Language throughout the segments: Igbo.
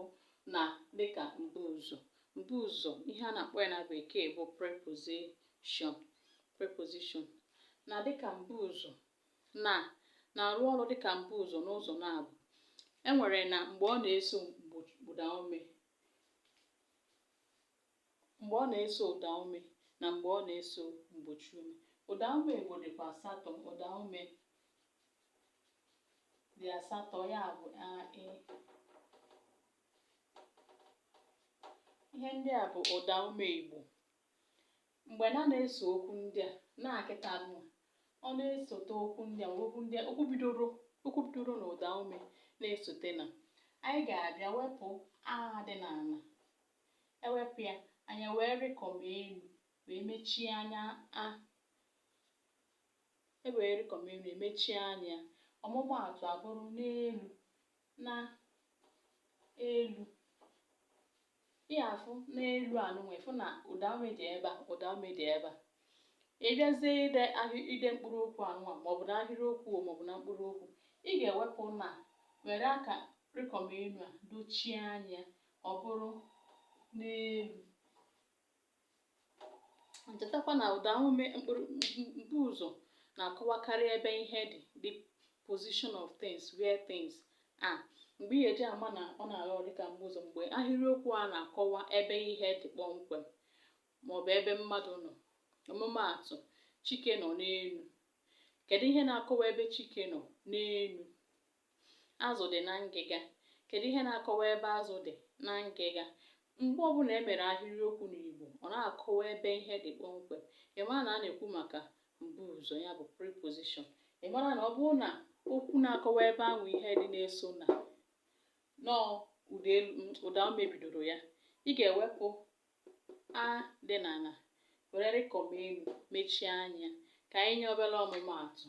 mbụ na dịka mbuụzọ mbuụzọ ihe a na-akpọ ya na bekee bụ preposition preposition na dịka mbuụzọ na na-arụ ọrụ dịka mbuụzọ n'ụzọ na-abụ e nwere na mgbe ọ na-eso mgbo ụdaume mgbe ọ na-eso ụdaume na mgbe ọ na-eso mgbochiume. Ụdaume Igbo dịkwa asatọ. Ụdaume dị asatọ, ya bụ a, e. Ihe ndị a bụ ụdaume Igbo. Mgbe na na-eso okwu ndị a, na kịta nwa, ọ na-esote okwu ndị a, okwu ndị a, okwu bidoro okwu bidoro na ụdaume na-esote na. Anyị ga-abịa wepụ a dị na na E wepụ ya, anyị ewee rịkọm elu wee mechie anya ya. E wee rịkọm elu emechie anya ya. Ọmụmaatụ abụrụ n'elu, na, elu. Ị afụ n'elu anụnwa ịfụ na ụdaume dị ebe a ụdaume dị ebe a. Ị bịazie ide ahị ide mkpụrụ okwu anụnwa maọbụ n'ahịrịokwu o maọbụ na mkpụrụ okwu, ị ga-ewepụ na were aka rịkọm elu a dochie anya ya ọ bụrụ n'elu chetakwa na ụdaume mkpụrụ mbuụzọ na-akọwakarị ebe ihe dị the position of things where things are mgbe ị ga-eji ama na ọ na-arụ ọrụ dịka mbuụzọ mgbe ahịrịokwu a na-akọwa ebe ihe dị kpọmkwem maọbụ ebe mmadụ nọ ọmụmaatụ chike nọ n'elu kedu ihe na-akọwa ebe chike nọ n'elu Azụ dị na ngịga. Kedụ ihe na-akọwa ebe azụ dị na ngịga? Mgbe ọbụla e mere ahịrịokwu n'Igbo, ọ na-akọwa ebe ihe dị kpọmkwem. Ị mara na a na-ekwu maka mbuụzọ, ya bụ preposition. Ị mara na ọ bụrụ na okwu na-akọwa ebe ahụ ihe dị na-eso na nọọ ụda elu ụdaume bidoro ya, ị ga-ewepụ a dị na na were rịkọm elu mechie anya. Ka anyị nye obere ọmụmaatụ.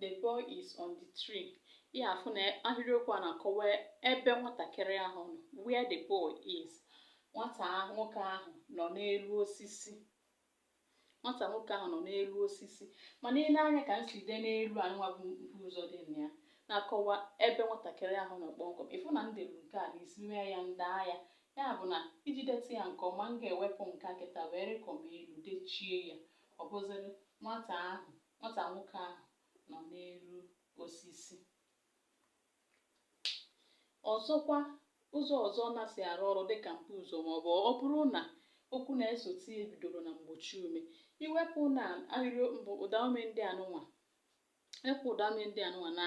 The boy is on the tree. Ị afụ na ahịrịokwu a na-akọwa ebe nwatakịrị ahụ nọ where the boy is. Nwata nwoke ahụ nọ n'elu osisi. Nwata nwoke ahụ nọ n'elu osisi. Mana ile anya ka m si dee n'elu anụnwa bụ mbuụzọ dị na ya na-akọwa ebe nwatakịrị ahụ nọ kpọmkwem. Ịfụ na m delu nke a n'isi mee ya m daa ya. Ya bụ na iji deta ya nke ọma, m ga-ewepụ nke a kịta wee rịkọm elu dechie ya. Ọ bụzịrị nwata ahụ, nwata nwoke ahụ nọ n'elu osisi. Ọzọkwa, ụzọ ọzọ ọ na-si arụ ọrụ dịka mbuụzọ maọbụ ọ bụrụ na okwu na-esote ya bidoro na mgbochiume. I wepụ na ahịrịokwu mbụ, ụdaume ndị anụnwa, e wepụ ụdaume ndị anụnwa na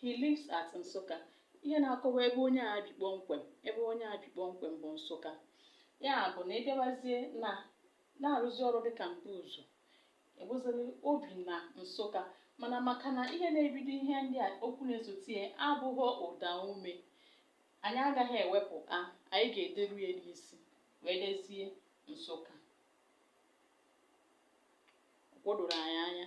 He lives at Nsụka. Ihe na-akọwa ebe onye a bi kpọmkwem. Ebe onye a bi kpọmkwem bụ Nsụka. Ya bụ na ị bịawazie na na-arụzi ọrụ dịka mbuụzọ, ị bụzịrị o bi na Nsụka. Mana maka na ihe na-ebido ihe ndị a okwu na-esote ya abụghị ụdaume, anyị agaghị ewepụ a, anyị ga-ederu ya n'isi wee dezie Nsụka. O doro anyị anya.